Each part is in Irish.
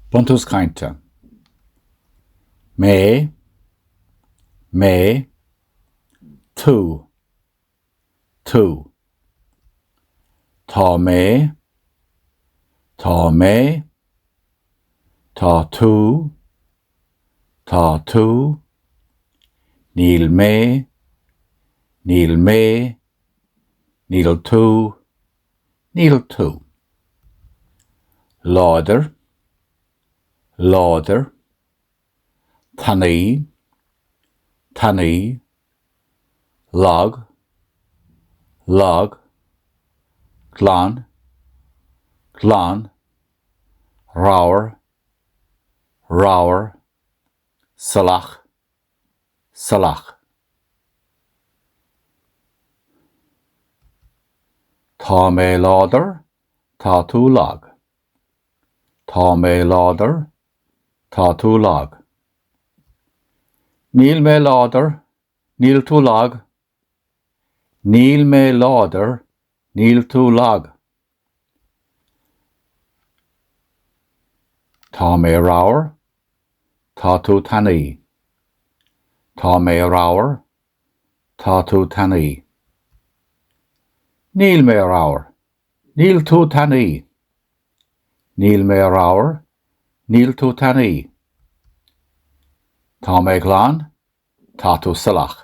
Buntús Cainte Mé Mé Tú Tú Tá mé Tá mé Tá tú Tá tú Níl mé Níl mé Níl tú níl tú. láidir, láidir, tanaí, tanaí, lag, lag, glan, glan, ramhar, ramhar, salach, salach. Tá mé láidir, tá tú lag. Tá mé láidir, tá tú lag. Níl mé láidir, níl tú lag Níl mé láidir, níl tú lag. Tá mé ramhar, tá tú tanaí. Tá mé ramhar, tá tú tanaí. Níl mé ramhar, níl tú tanaí. Níl mé ramhar, níl tú tanaí. Tá mé glan, Tá tú salach.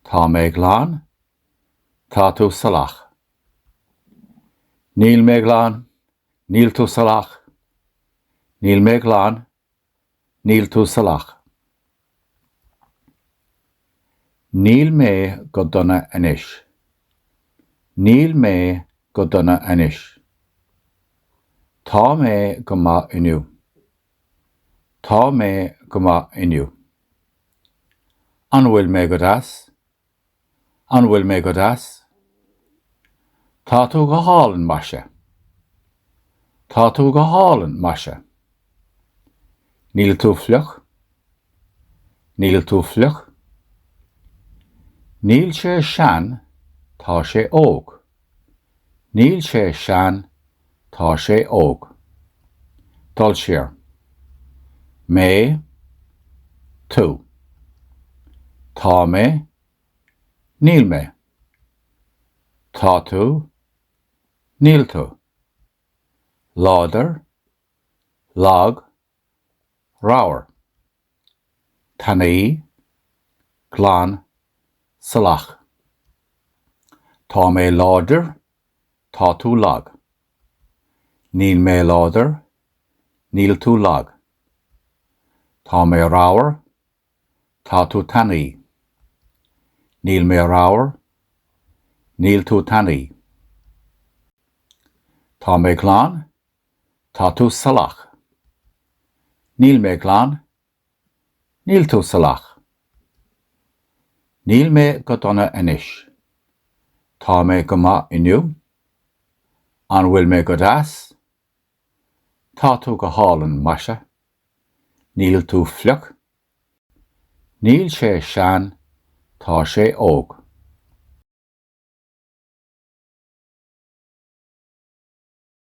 Tá mé glan. Tá tú salach. Níl mé glan. Níl tú salach. Níl mé glan. Níl tú salach. Níl mé go dona anois. Níl mé go dona anois. Tá mé go maith inniu. Tá mé go maith inniu. An bhfuil mé go deas? An bhfuil mé go deas? Tá tú go hálainn, maise. Tá tú go hálainn, maise. Níl tú fliuch. Níl tú fliuch. Níl sé sean, tá sé óg. Níl sé sean, tá sé óg. Dul siar. Mé. Tú. Tá mé. Níl mé. Tá tú. Níl tú. Láidir. Lag. ramhar, tanaí, glan, salach. Tá mé láidir, tá tú lag. Níl mé láidir, níl tú lag. Tá mé ramhar, tá tú tanaí. Níl mé ramhar, níl tú tanaí. Tá mé glan, Tá tú salach. Níl mé glan. Níl tú salach. Níl mé go dona anois. Tá mé go maith inniu. An bhfuil mé go deas? Tá tú go hálainn, maise. Níl tú fliuch. Níl sé sean, tá sé óg.